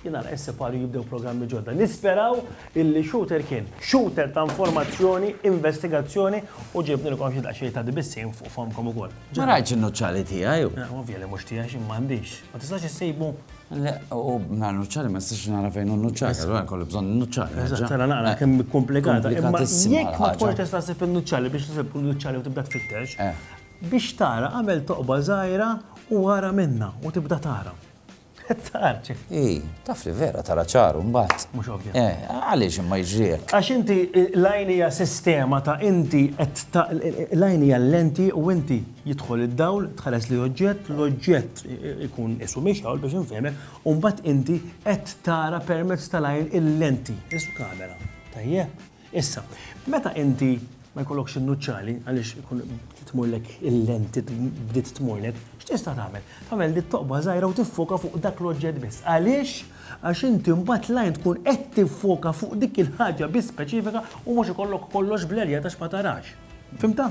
Jien nara is-Cepal li jibdew programmi ġodda. Nisperaw illi Shooter kien Shooter ta' informazzjoni, investigazzjoni u ġibnilkom xi daqsxejn ta' dbissiem fuq fomkom ukoll. Ma rajtx in-nuċċali tiegħi. Ovvja li mhux tiegħi x'imma għandix. Ma tistax issibu? Le, u mingħajr nuċċali ma nistax nara fejn hu n-nuċċali, allura nkolli bżonn in-nuċċali. Eżatt, ara naqra kemm hi komplikata. Imma jekk ma tkunx tista' ssib in-nuċċali biex isib kull nuċċali u tibda tfittex, biex tara agħmel toqba żgħira u ara minnha u tibda tara. Tar ċif. I, taf li vera tara ċaru mbagħad. Mhux ovvja. Eh, għaliex imma jġriek. Għax inti l-għajn hija sistema ta' inti qed l-għajn hija lenti u inti jidħol id-dawl, tħares li oġġett, l-oġġett ikun isu miex hawn biex infehmek, u mbagħad inti qed tara permezz tal-għajn il-lenti, isu kamera. Tajjeb. Issa, meta inti ma jkollokx in-nuċċali għaliex ikun tmurlek il-lenti bdiet tmurlek, x'tista' tagħmel? Tagħmel dit toqba żgħira u tiffoka fuq dak l-oġġett biss. Għaliex? Għax inti mbagħad lajn tkun qed tiffoka fuq dik il-ħaġa biss speċifika u mhux ikollok kollox blerja għax ma tarax. Fimta?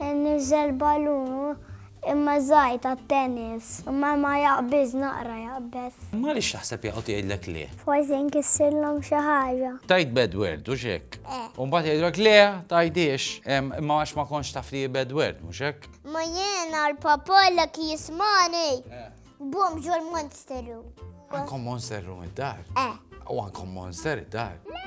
Niżżel balun u imma żgħir tat-tennis. Imma ma jaqbiż, naqra jaqbeż. Imma għaliex taħseb jaqgħod jgħidlek le? Forsi nkissirlhom xi ħaġa. Tgħid bad word, hux hekk? Eh. U mbagħad jgħidulek le, tgħidhiex. Imma għax ma kontx taf li hi bad word, mhux hekk? Ma jiena l-papalek jismagħni. Eh. Bum ġo l-monster room. Għandkom monster room id-dar? Eh. U għandkom monster id-dar? Le!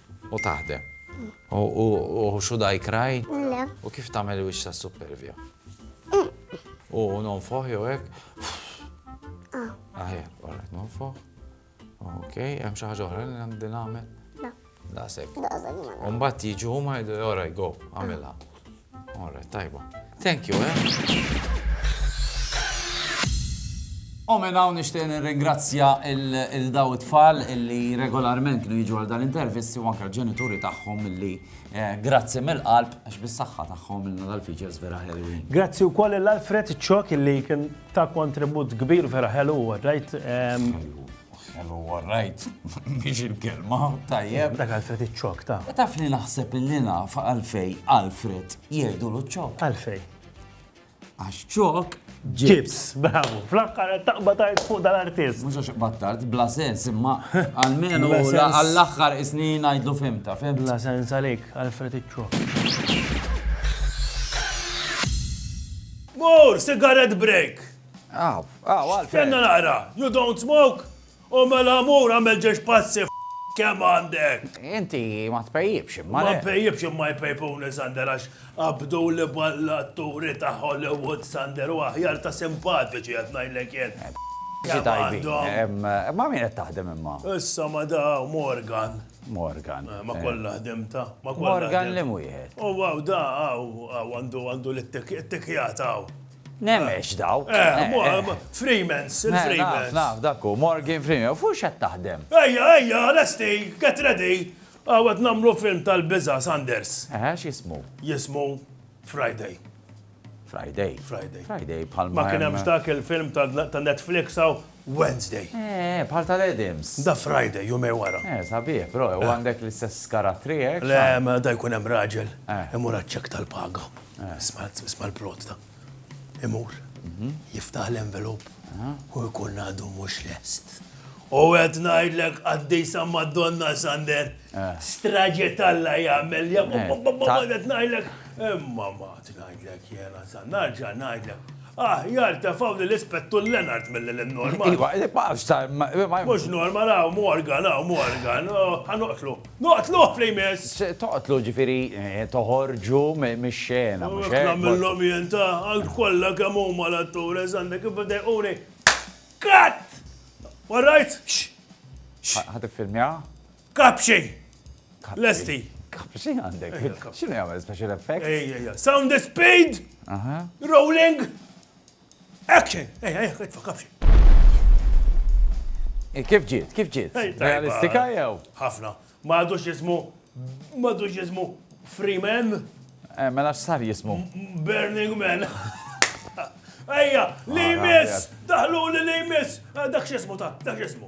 U taħdem. U should I cry? Le. U kif tagħmel il-wiċċ tas-suppervja? U nonfoħ jew hekk? Ah. Aħjar, alright, nonfoħ. Ok, hemm xi ħaġa oħra li għandi nagħmel? La. Daqshekk. Daqshekk. Mbagħad jiġu huma jgħidu, alright, go, għamilha. All right, tajba. Thank you, eh? U minn hawn nixtieq nirringrazzja il daw it-tfal illi regolarment kienu jiġu għal dan intervisti u anke l-ġenituri tagħhom illi eh, grazzi mill-qalb għax bis-saħħa tagħhom minna dal-features vera ħelwin. Grazzi wkoll l-Alfred Ċok illi kien ta' kontribut kbir vera ħelu rajt. Ehm, Kellu warrajt biex il-kelma tajjeb. Dak Alfred iċ-ċok ta'. Taf li naħseb illi naf għalfej Alfred jgħidu l-ċok. Għalfej. Għax ċok ġibs. Bravo, fl-aħħar taqba tard fuq dal-artist. Mhux għax iqbad tard, bla sens, imma għalmenu għall-aħħar isni ngħidlu fimta, fimta. Bla sens għalik, Alfred iċ-ċok. Mur, sigaret break! Aw, aw, Alfred. Stenna naqra, you don't smoke? O mela mur għamel ġiex pazzi kemm għandek! Inti ma tpejjibx imma. Ma npejjibx imma jpejpuni Sander għax qabdu li ball-atturi ta' Hollywood Sander u aħjar ta' simpatiċi qed ngħidlek jien. Kemm għandhom. Ma' min qed taħdem imma? Issa ma' da Morgan. Morgan. Ma' kollha ħdimtha. Morgan li mwieħed. U hawn da hawn għandu l-ittikjata hawn. Nemx dawk. Freemans, il-Freemans. Naf, dak hu, Morgan Freeman. U fuq x'qed taħdem? Ejja, ejja, lesti, get ready. Hawn qed nagħmlu film tal-biża', Sanders. Eħe, x'jismu? Jismu Friday. Friday? Friday. Friday bħal ma. Ma kien hemmx dak il-film ta' Netflix hawn Wednesday. Eeh, bħal tal-Adams. Da Friday, jumejn wara. Eeh, sabiħ, però u għandek l-istess karattri hekk? Le, ma da jkun hemm raġel imur għaċ-ċekk tal-paga. Isma' l-plotta. Imur, jiftaħ l-envelop u jkun għadu mhux lest. U qed ngħidlek qaddisa Madonna Sander, straġe t'Alla jagħmel, qed ngħidlek, imma ma qed ngħidlek jiena, sa nerġa' ngħidlek. Aħjar tefgħu lil Ispettur Leonard milli lil Norman. Iva, ma nafx sa ma ma. Mhux Norman hawn Morgan, hawn Morgan. Ħa noqtlu. Noqtluh fl imiss! Se toqtlu ġifieri toħorġu mix-xena, mhux hekk? Hekk nagħmillhom jien ta, għal kollha kemm huma l-attures għandek kif idejquni. Cut! All right? Ħa tiffilmjaha? Kapxi! Lesti! Kapxi għandek. Xinu jgħamil special effect? Sound the speed! Rolling! Action! Ejja, ejja, ejja, kapxi. Kif ġiet, kif ġiet? Realistika jew? Ħafna. Ma għadux jismu, ma għadux jismu Freeman. Eh, mela x'sar jismu? Burning Man. Ejja, li jmiss! Daħlu li li jmiss! Eh, dak x'ismu ta' dak x'ismu.